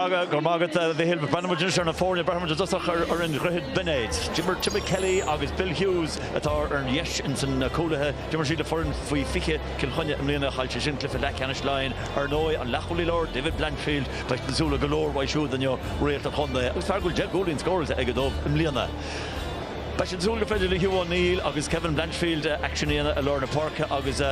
Go raibh maith agat, a Mhichíl. Breathnóidh muid anois ar na foirne breathnóidh muid i dtosach ar fhoireann Dhroichead Binéid. D'imir Timmy Kelly agus Bill Hughes, atá ar dheis ins na cúlaithe, d'imir siad le foireann faoi 20 Cill Chainnigh i mbliana. Chaill siad sin cluiche leathcheannais Laighin. Ar ndóigh, an leath-chúlaí láir, David Blanchfield, atá ag súil le go leor uaidh siúd inniu, réalt an chontae agus fear go bhfuil deich gcúilín scóráilte aige dóibh i mbliana. Beidh siad ag súil gur féidir le Hugh O'Neill agus Kevin Blanchfield aicsean a dhéanamh i lár na páirce agus,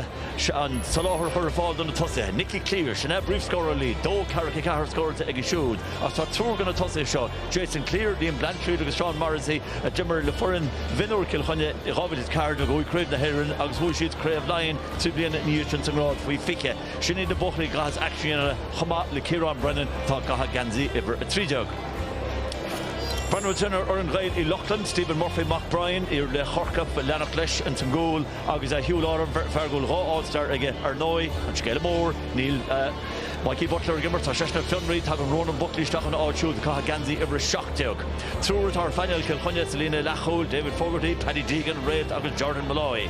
an soláthar a chur ar fáil do na tosaithe, Nicky Cleere, sin é a bpríomhscórálaí, dó ceathracha a ceathair scóráilte aige siúd, ach tá triúr de na tosaithe seo, Jason Cleere, Liam Blanchfield agus Seán Morrissey, a d'imir le foireann mhionúir Chill Chainnigh i 2014 nuair a bhuaigh Craobh na hÉireann agus bhuaigh siad Craobh Laighean trí bliana ina dhiaidh sin sa ngrád faoi 20. Sin iad na buachaillí a chaithfeas aicsean a dhéanamh chomh maith le Ciarán Brennan atá ag caitheamh geansaí uimhir 13. Breathnú ansin ar fhoireann Ghaeil Uí Lochlainn, Stephen Murphy, mac Brian, iarlaoch Chorcaí, ag leanacht leis ins an gcúl. Agus Huw Lawlor, fear go bhfuil dhá All Star aige ar ndóigh, an scéala mór, níl Mikey Butler ag imirt, tá seisean ar fionraí, tagann Ronan Buckley isteach ina áit siúd ag caitheamh geansaí uimhir a seacht déag. Triúr atá ar phainéal Chill Chainnigh sa líne leathchúil, David Fogarty, Paddy Deegan, réalt agus Jordan Molloy.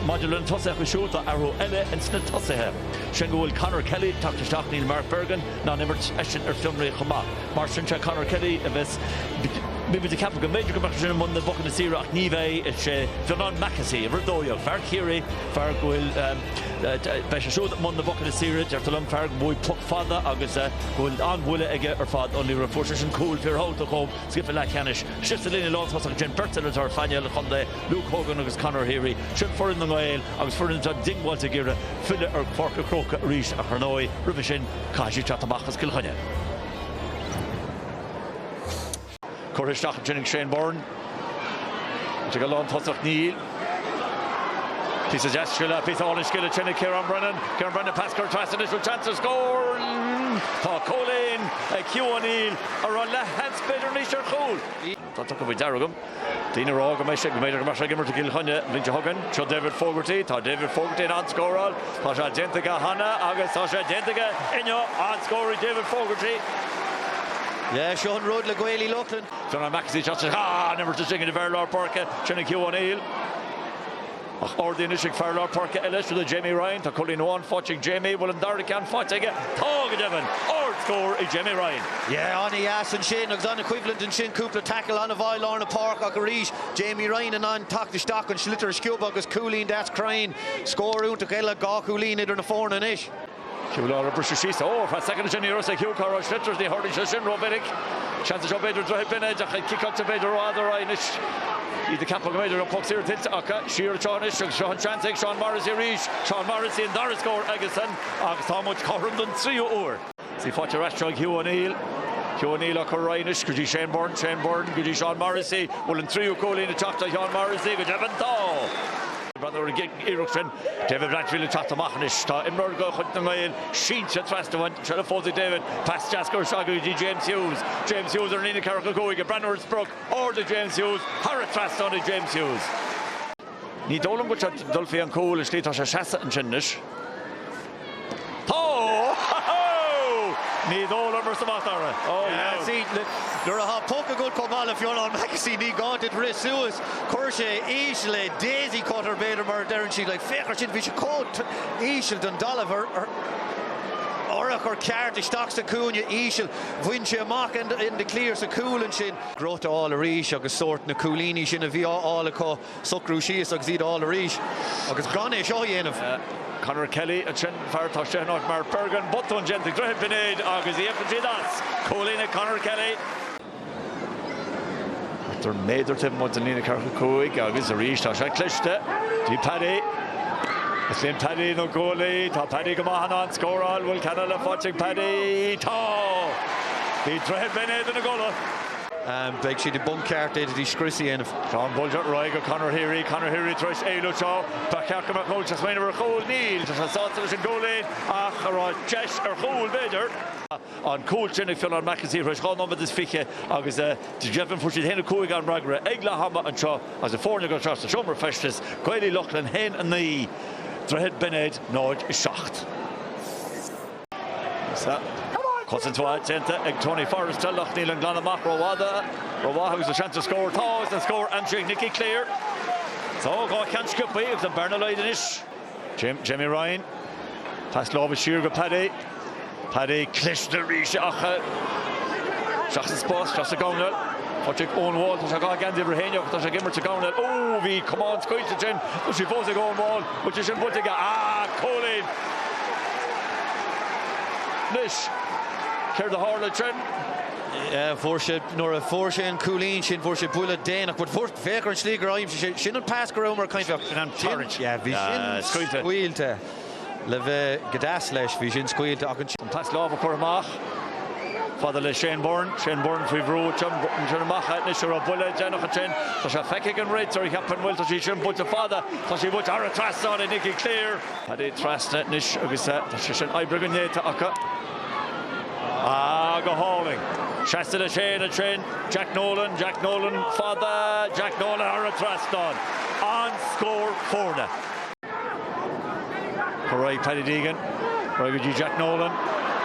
Maidir lena tosaithe siúd, tá athrú eile ins na tosaithe. Sin go bhfuil Conor Kelly ag teacht isteach, níl Mark Bergin, in ann imirt, eisean ar fionraí chomh maith. Mar sin, sé Conor Kelly a bheas, bhí muid ag ceapadh go mb'fhéidir go mbeadh sé sin i mbun na bpocanna saora ach ní bheidh. Is é Fionán Mackessy, uimhir 12, fear Chiarraí, fear go bhfuil, beidh sé siúd i mbun na bpocanna saora, deirtear liom, fear a bhuaigh an poc fada agus go bhfuil an-bhuille aige ar fad ar an liathróid. Fuair sé sin cúl fíorthábhachtach dhóibh sa gcluiche leathcheannais. Síos sa líne lántosach ansin, beirt eile atá ar phainéal an chontae, Luke Hogan agus Conor Heary. Sin foireann na nGael agus foireann atá diongbháilte ag iarraidh filleadh ar Pháirc a' Chrócaigh arís ach ar ndóigh, roimhe sin, caithfidh siad teacht amach as Cill Chainnigh. Curtha isteach ansin ag Shane Byrne. Ag a lán tosach Neil. Píosa deas scile, píosa álainn scile déanta ag Ciarán Brennan. Ciarán Brennan pas curtha as anois with chance to score. Tá cúilín ag Hugh O'Neill, an raibh leathsheans b'fhéidir anois ar chúl. Tá tugtha faoi deara agam daoine a rá go mbeidh sé, go mb'fhéidir go mbeadh sé ag imirt i gCill Chainnigh an bhliain seo chugainn. Seo David Fogarty. Tá David Fogarty in ann scóráil. Tá sé déanta aige cheana agus tá sé déanta aige inniu. An-scór ag David Fogarty. Yeah, seo an rud le Gaeil Uí Lochlainn. John O'Mahony, shot, shot, an imirt is déine de bharr lár páirce, sin ag Hugh O'Neill. Ach ardaithe anois ag fear lár páirce eile, siúd é Jamie Ryan, tá cúilín amháin faighte ag Jamie, bhfuil an dara ceann faighte aige? Tá go deimhin! Ardscór ag Jamie Ryan. Yeah, ana dheas ansin agus ana choimhlint ansin, cúpla tackle ana mhaith i lár na páirce ach arís Jamie Ryan in ann teacht isteach, an sliotar a sciobadh agus cúilín deas cruinn. Scór iontach eile, dhá chúilín idir na foirne anois. Cé bhfuil uirthi, briseadh síos? Ó! Feadh soicind ansin ní raibh a fhios cá raibh an sliotar, ní tharlaíonn sé sin ró-mhinic. Seans anseo b'fhéidir Droichead Binéid ach ag ciceáil tá sí b'fhéidir rófhada ar aghaidh anois. Iad ag ceapadh go mb'fhéidir go raibh poc saor tuillte acu. Siar anseo anois agus seo an seans ag Seán Morrissey arís. Seán Morrissey an dara scór aigesan agus tá muid cothrom don tríú uair. Sí faighte ar ais seo ag Hugh O'Neill. Hugh O'Neill á cur ar aghaidh anois go dtí Shane Byrne, Shane Byrne go dtí Seán Morrissey. Bhfuil an tríú cúilín ag teacht do Sheán Morrissey? Go deimhin tá! Bhíodar ag iarraidh sin. David Blanchfield ag teacht amach anois. Tá imreoir de chuid na nGael sínte trasna uaidh. sa phóca ag David. Pas deas ar aghaidh go dtí James Hughes. James Hughes ar an líne ceathracha cúig. Ag breathnú ar an sprioc ard í James Hughes. thar an trasnán í James Hughes. Ní dóigh liom go dtiocfaidh an cúl an tslí atá sé seasta ansin anois. Ho! Ho! Ho! Ní dóigh liom arsa Mac Dara. Ó dheas! Nuair a atá poc agat chomh maith le Fionnán Mackessy ní gá duit rith suas. Chuir sé íseal é daisy cutter b'fhéidir mar a deireann siad like féach ar sin bhí sé chomh íseal don talamh ar ar a chur ceart isteach sa chúinne íseal. Bhain sé amach an declare sa chúl ansin. Greim a fháil arís agus sórt na cúilíní sin a bhí á fháil acu. socrú síos agus iad a fháil arís. Agus gan é seo a dhéanamh. Conor Kelly ansin, fear atá isteach in áit Mark Bergin. Botún déanta ag Droichead Binéid agus íocann siad as! Cúilín ag Conor Kelly. Cuirtear méadar taobh amuigh den líne ceathracha cúig agus arís tá sé cliste. Paddy. Is breá le Paddy na góil. Tá Paddy go maith in ann scóráil. Bhfuil ceann eile faighte ag Paddy? Tá! Bhí Droichead Binéid ina gcodladh. Beidh siad i bponc ceart iad a dtí scrios a dhéanamh. Tá an pas seo ar aghaidh go Conor Heery. Conor Heery tar éis éalú anseo. Ba cheart go mbeadh deis anseo ar chúl. Níl. Tá sé sásta leis an gcúilín ach an raibh deis ar chúl b'fhéidir. An cúl sin ag Fionán Mackessy tar éis dhá nóiméad is fiche agus d'éirigh fuair siad a haon a cúig ar an bhfreagra ag leath ama anseo agus na foirne ag dul isteach sa seomra feistis. Gaeil Uí Lochlainn haon a naoi, Droichead Binéid náid a seacht. Cosaint mhaith déanta ag Tony Forrester ach níl an glan amach rófhada. Rómhaith agus an seans ar scór. Tá agus an scór aimsithe ag Nicky Cleere. Tá dhá cheann sciobtha agus an bearna á laghdú anois. Jamie Ryan. Pas láimhe siar go Paddy. Paddy cliste arís ach isteach sa spás, isteach sa gcoirnéal. Patrick Owen Wall, tá sé dhá dhéanamh é féin ach tá sé ag imirt sa gcoirnéal. Ó, bhí camán scaoilte sin. Tá sí fós ag Owen Wall, bhfuil sé sin buailte aige? Ah, cúilín! Anois, céard a tharla ansin? Fuair sé, nuair a fuair sé an cúilín sin, fuair sé buille déanach, but fuair, féach ar an slí gur aimsigh sé, sin an spás go rabhamar ag caint fá, sin an tarraingt, yeah, bhí sin scaoilte, le bheith go deas faoi, bhí sin scaoilte ach an. An pas láimhe curtha amach, fada le Shane Byrne, Shane Byrne faoi bhrú, ansin amach anois a raibh buille déanach ansin, tá sé feicthe ag an réiteoir, cheapfainn, bhuel tá sí sin buailte fada, tá sí buailte thar an trasnán ag Nicky Cleere. Paddy trasna anois agus tá sé sin oibrithe go néata acu. Ah, go hálainn. Pas isteach le Shane ansin, Jack Nolan, Jack Nolan fada, Jack Nolan thar an trasnán. An-scór foirne. Go réidh Paddy Deegan, réidh go dtí Jack Nolan.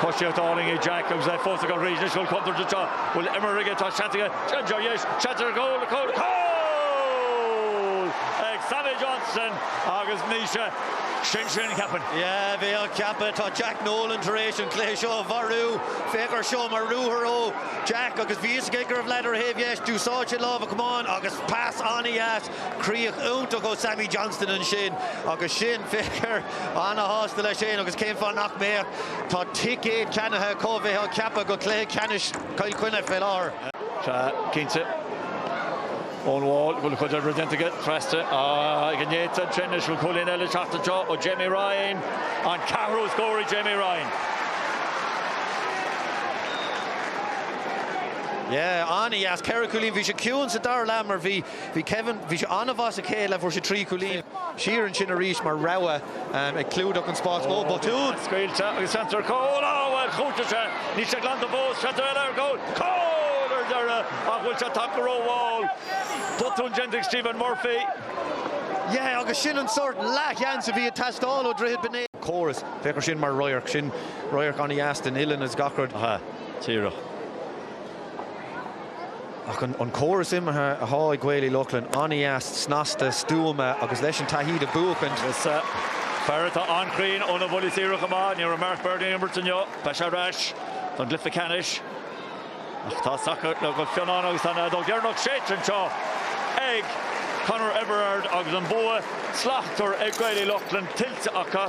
Coisíocht álainn ag Jack agus é fós ag imeacht arís. Anois bhfuil contúirt anseo, bhfuil imreoir aige, tá seans aige, seans ar dheis, seans ar chúl, cúl, cúl! Ag Sammy Johnson! Agus mise. Sin sin, cheapfainn. Yeah, bheadh, cheapfá. Tá Jack Nolan tar éis an cluiche seo a mharú. Féach air seo, mar ruathar ó Jack agus bhí fhios aige go raibh leaid ar a thaobh dheis. D'úsáid sé lámh a chamáin agus pas an-dheas. Críoch iontach ó Sammy Johnston ansin. Agus sin, féach air, ana-shásta leis féin agus cén fáth nach mbeadh. Tá ticéad ceannaithe acu, bheifeá ag ceapadh, go cluiche ceannais Chill Chainnigh fé láthair. Sea, cinnte. Ón mball go bhfuil cuid oibre déanta aige feasta ag an néta sin anois bhfuil cúilín eile ag teacht anseo ó Jamie Ryan, an ceathrú scór ag Jamie Ryan. Yeah, an-dheas, ceithre cúilín. Bhí sé ciúin sa dara leath mar bhí, bhí Kevin, bhí sé an-mhaith sa chéad leath, fuair sé trí chúilín. Siar ansin arís mar rogha. Ag clúdach an spáis mhóir botún. Scaoilte agus seans ar chúl. Á bhuel, chúiteann sé. Níl sé glanta fós. Seans eile ar chúl. Cúl! Ar deireadh! Ach bhfuil sé tagtha ró-mhall? Botún déanta ag Stephen Murphy. Yeah, agus sin an sórt leathsheans a bhí ag teastáil ó Dhroichead Binéid. Córas. Féach air sin mar radharc. Sin radharc an-deas den oileán is gach rud. Aha. Díreach. Ach an córas imeartha atá ag Gaeil Uí Lochlainn an-dheas, snasta, stuama agus leis an taithí de bheith ag buachaint. Is fear atá an-chruinn óna buillí saora chomh maith. Ní raibh Mark Bergin ag imirt inniu, beidh sé ar ais don gcluiche ceannais. Ach tá sacar le go fionnán agus tá an fheadóg dheireanach séidte anseo ag Conor Everard agus an bua slachtmhar ag Gaeil Uí Lochlainn tuillte acu.